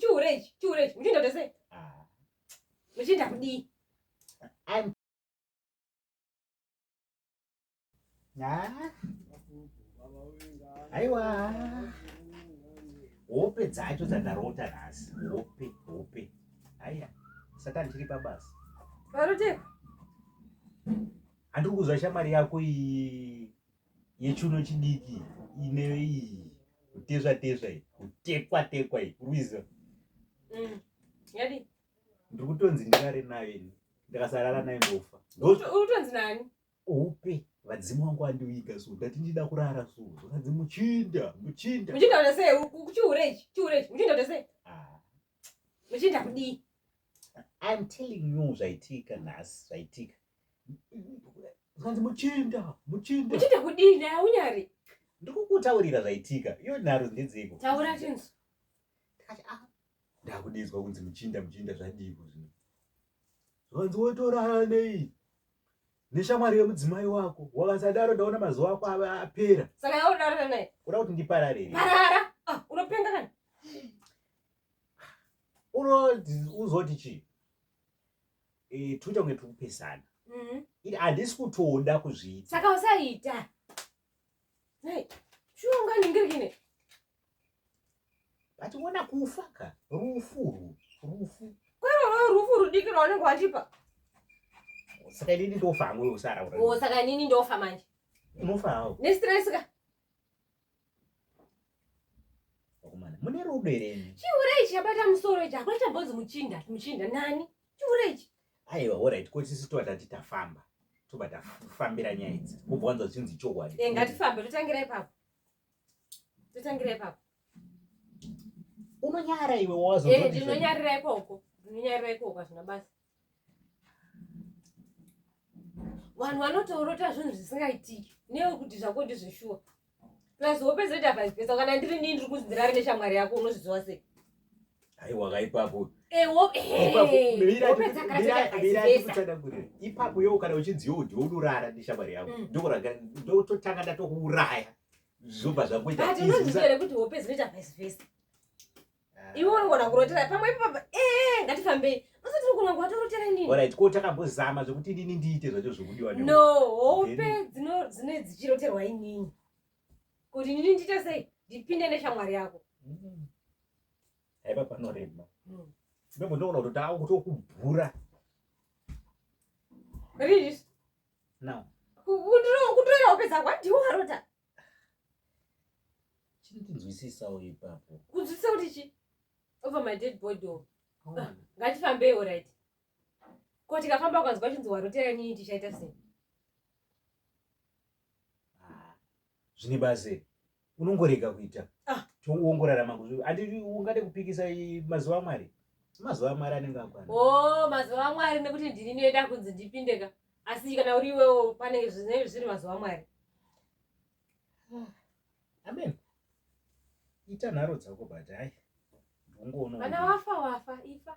chihure ichi chihure ichi muchinda kuita sei ah. muchinda kudii aiwa hope dzacho dzandarota nhasi hope hope aiya saka ndiri pabasa varoteko handiri kuziva shamwari yako iyi yechuno chidiki ine iyi kutezva tezva iyi kutekwa tekwa iyi kurwiza mm. yadi ndiri kutonzi ndirare nayo ini ndikasarara nayo ndofa utonzi nani upe vadzimu wangu andiviga so ndati ndida kurara so zvakanzi muchinda muchinda muchinda kuti sei chihure ichi chihure ichi muchinda kuti sei ah. muchinda kudii I'm telling you zvaitika nhasi zvaitika zvanzi muchinda muchinda muchinda kudii naye aunyari ndikukutaurira zvaitika iyo nharo ndedzeiko taura tinzi ah, ndakudizwa kunzi muchinda muchinda zvadiiko zvino zvanzi wotorara nei neshamwari yemudzimai wako wakasadaro ndaona mazuva ako ava apera saka yaodarara naye kuda kuti ndiparare parara ah, unopenga kana unozoti chii eh, tuita kunge tiri kupesana mm-hmm. iri handisi kutoda kuzviita saka usaita shuwa unganingirikine but wona kufa ka rufu rufu kweroro rufu rudiki rwaunenge wandipa saka inini ndofa hangu usara oh, saka inini ndofa manje unofa hawo nestress ka Vakomana, mune rudo here imi? Chihure ichi chabata musoro ichi hakuna chambonzi muchinda muchinda nani chihure ichi Aiwa, alright, ko tisu tova tati tafamba. Tobva tafambira nyaya idzi. Kubva wanzwa zvichinzi chokwadi. Eh, ngatifambe totangira ipapo totangira ipapo Unonyara iwe wazo. Eh, ndinonyarira ikoko ndinonyarira ikoko hazvina basa vanhu vanotoorota zvinhu zvisingaitiki newe kuti zvako ndizveshuwa plus hope zoita vice versa kana ndiri nii ndiri kunzi ndirare neshamwari yako unozviziva sei aiwa kaipapo ipapo yo kana uchinzi yo ndiwe unorara neshamwari yako mm. ndototanga ndatokuuraya zvobva zvakuita kuti hope zinoita vice versa iwe unogona kurotera pamwe ipapa ee ngatifambei usati unogona kuvatorotera inini orit ko takambozama zvekuti inini ndiite zvacho zvekudiwa no hope dzine dzichiroterwa inini kuti inini ndiite sei ndipinde neshamwari yako mm-hmm. haipa panorema mm. memo ndogona kuti taa kuti okubhura riis no kutoera hope dzako andiwo arota chinditinzwisisawo ipapo kunzwisisa kuti chi over my dead body o ah, ngatifambei orit ko tikafamba ukanzwa chinzi warotera nyii tichaita sei ah, zvine base unongorega kuita ah. tiongorarama andii ungade kupikisa mazuva amwari mazuva amwari anenge akwana o oh, mazuva amwari nekuti ndini noida kunzi ndipindeka asi kana uri iwewo pane zvinenge zvisiri mazuva mwari hmm. amen ita nharo dzako but hai ndongoona vana wafa wafa ifa